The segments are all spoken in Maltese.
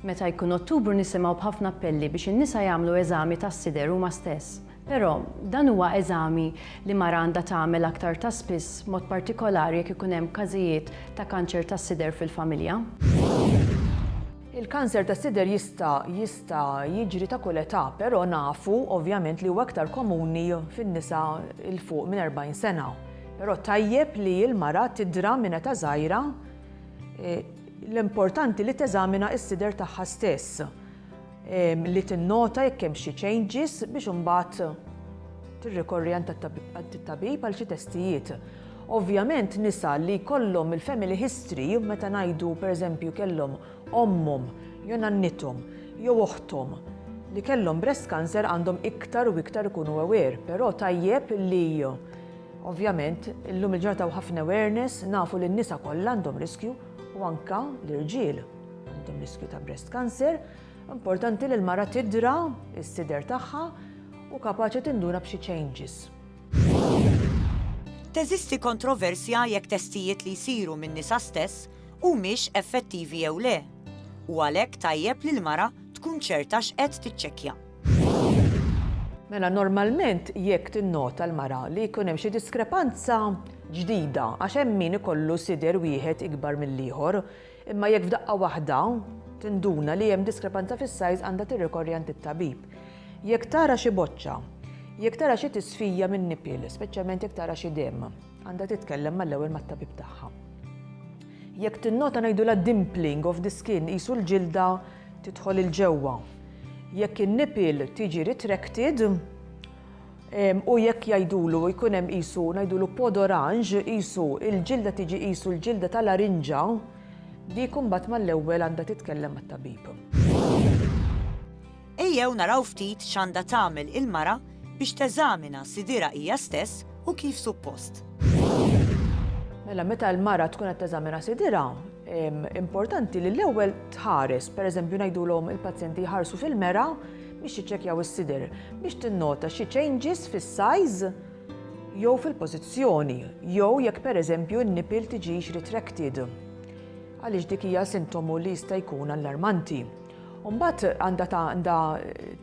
Meta jkun Ottubru nisimgħu b'ħafna appelli biex in-nisa jagħmlu eżami tas-sider huma stess. Però, dan huwa eżami li mara għandha tagħmel aktar ta' spiss b'mod partikolari jekk ikun hemm każijiet ta' kanċer tas-sider fil-familja. Il-kanser tas-sider jista' jista' jiġri ta' kull età, però nafu ovvjament li huwa iktar komuni fin-nisa 'l fuq minn 40 sena. Però tajjeb li l-mara tidra minn età żgħira, L-importanti li teżamina s-sider tagħha stess, li tinnota jekk hemm xi changes biex imbagħad tirrikorri għand it-tabib għal xi testijiet. Ovvjament nisa li jkollhom il-family history meta ngħidu pereżempju kellhom ommhom jew nannithom jew oħthom li kellhom breast cancer għandhom iktar u iktar ikunu aware, però tajjeb li Ovvjament, illum il-ġurnata hawn ħafna awareness, nafu li n-nisa kollha għandhom riskju u anke l-irġiel għandhom riskju ta' breast cancer. Importanti li l-mara tidra s-sider tagħha u kapaċi tinduna b'xi changes. Teżisti kontroversja jekk testijiet li jsiru min-nisa stess humiex effettivi jew le, u għalhekk tajjeb li l-mara tkun ċerta x'qed tiċċekkja. Mela normalment jekk tinnota l-mara li jkun hemm xi diskrepanza ġdida għax hemm min ikollu sider wieħed ikbar mill-ieħor, imma jekk f'daqqa waħda tinduna li hemm diskrepanza fis-size għandha tirrikorri għand it-tabib. Jekk tara xi boċċa, jekk tara xi tisfija min-nipil, speċjalment jekk tara xi demm, għandha titkellem mal-ewwel mat-tabib tagħha. Jekk tinnota ngħidulha dimpling of the skin qisu l-ġilda tidħol 'il ġewwa. Jekk in-nipil tiġi retracted, u jekk jgħidulu jkun hemm qisu ngħidulu pod oranġ, qisu il-ġilda tiġi qisu l-ġilda tal-arinġa, dik imbagħad mal-ewwel għandha titkellem mat-tabib. Ejjew naraw ftit x'għandha tagħmel il-mara biex teżamina sidirha hija stess u kif suppost. Mela meta l-mara tkun qed teżamina sidirha, Importanti li l-ewwel tħares, pereżempju ngħidulhom il-pazjenti jħarsu fil-mera biex jiċċekkjaw is-sider, biex tinnota xi changes fis-size jew fil-pożizzjoni, jew jekk pereżempju n-nipil tiġix retracted. Għaliex dik hija sintomu li jista' jkun allarmanti. Umbat għanda għanda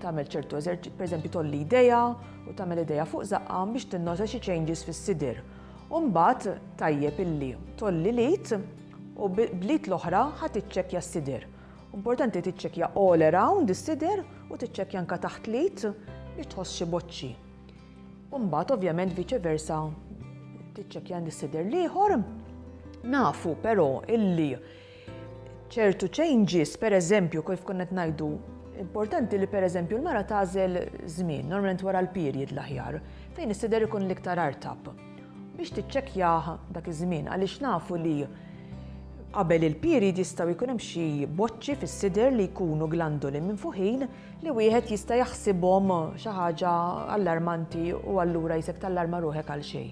tagħmel ċertu eżerċi, per eżempju tolli ideja u tagħmel ideja fuq zaqqa biex tinnota xi changes fis-sidir. U mbagħad tajjeb illi tgħolli l-id u bl-id l-oħra ħa tiċċekkja s-sider. Importanti tiċċekkja all around is-sider u tiċċekkja anke taħt l-id biex tħoss xi boċċi. U mbagħad ovvjament viċe versa tiċċekkja l-sider l-ieħor. Nafu però illi ċertu changes, per eżempju, kif konna qed ngħidu, importanti li per eżempju l-mara tagħżel żmien, normalment wara l-period l-aħjar, fejn is-sider ikun l-iktar artab biex tiċċekkjah dak iż-żmien għaliex nafu li qabel il-period jistgħu jkun hemm xi boċċi fis-sider li jkunu glandoli minfuħin li wieħed jista' jaħsibhom xi ħaġa allarmanti u allura jisek tallarma ruħek għal xejn.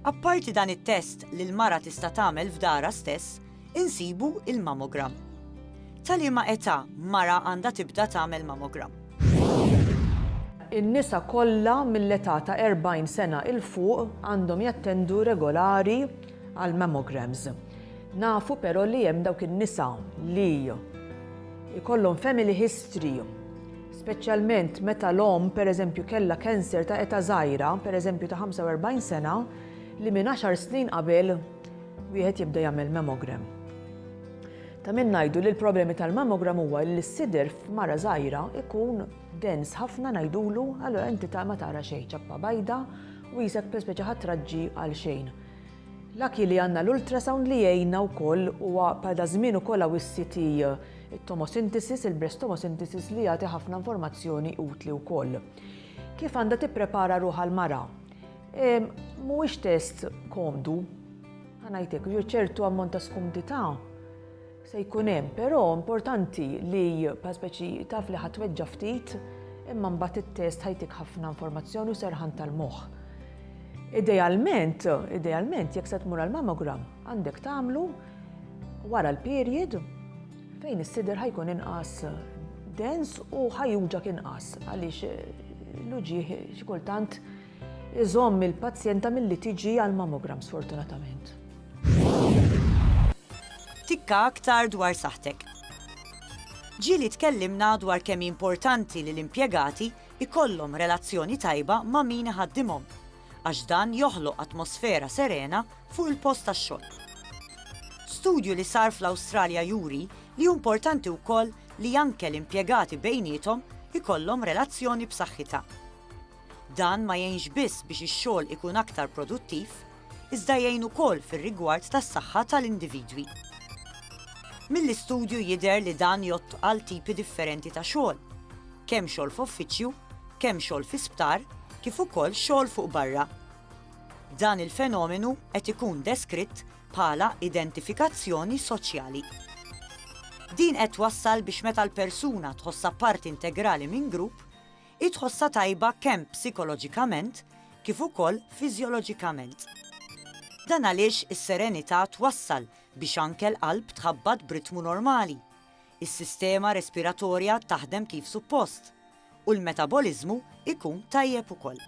Apparti dan it-test li l-mara tista' tagħmel f'darha stess, insibu l-mammogram. Ta' liema età mara għandha tibda tagħmel mammogram? In-nisa kollha mill-età ta' 40 sena 'il fuq għandhom jattendu regolari għall-mammograms. Nafu però li hemm dawk in-nisa li jkollhom family history speċjalment meta l-omm pereżempju kellha cancer ta' età żgħira, pereżempju ta' 45 sena, li minn għaxar snin qabel wieħed jibda jagħmel mammogram. Ta' min ngħidu li l-problemi tal-mammogram huwa li s-sider f'mara żgħira ikun dens ħafna ngħidulu allura inti ta' ma tara xejn ċappa bajda u jisek pereżempju ħatraġġi għal xejn. Lucky li għandna l-ultrasound li jgħinna wkoll huwa bħal daż-żmien ukoll hawn is-CT, it-tomosynthesis, il-breast tomosynthesis li jagħti ħafna informazzjoni utli wkoll. Kif għandha tipprepara ruħha l-mara? Mhuwiex test komdu, ħa ngħidlek, ċertu ammont ta' skumdità Se jkun hemm, però importanti li bħal speċi taf li ħadd weġġa' ftit, imma mbagħad it-test ħajtik ħafna informazzjoni u serħan tal-moħħ. Idealment, idealment jekk se tmur għal mammogram għandek tagħmlu wara l-period fejn is-sider ħajkun inqas dens u ħajuġak inqas għaliex l-uġieħ xi kultant Iżomm il-pazjenta milli tiġi għall-mammogram sfortunatament. Tikka aktar dwar saħħtek. Ġieli tkellimna dwar kemm hi importanti li l-impjegati jkollhom relazzjoni tajba ma' min iħaddimhom għax dan joħloq atmosfera serena fuq il-post tax-xogħol. Studju li sar fl-Awstralja juri li hu importanti wkoll li anke l-impjegati bejniethom ikollhom relazzjoni b'saħħitha. Dan ma jgħinx biss biex ix-xogħol ikun aktar produttiv, iżda jgħin ukoll fir-rigward tas-saħħa tal-individwi. Mill-istudju jidher li dan jgħodd għal tipi differenti ta' xogħol, kemm xogħol f'uffiċċju, kemm xogħol fi sptar, kif ukoll xogħol fuq barra. Dan il-fenomenu qed ikun deskritt bħala identifikazzjoni soċjali. Din qed twassal biex meta l-persuna tħossha parti integrali minn grupp, Hi tħossha tajba kemm psikoloġikament kif ukoll fiżjoloġikament. Dan għaliex is-serenità twassal biex anke l-qalb tħabbat b'ritmu normali, is-sistema respiratorja taħdem kif suppost, u l-metaboliżmu jkun tajjeb ukoll.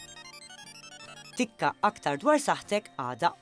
Tikka aktar dwar saħħtek għada.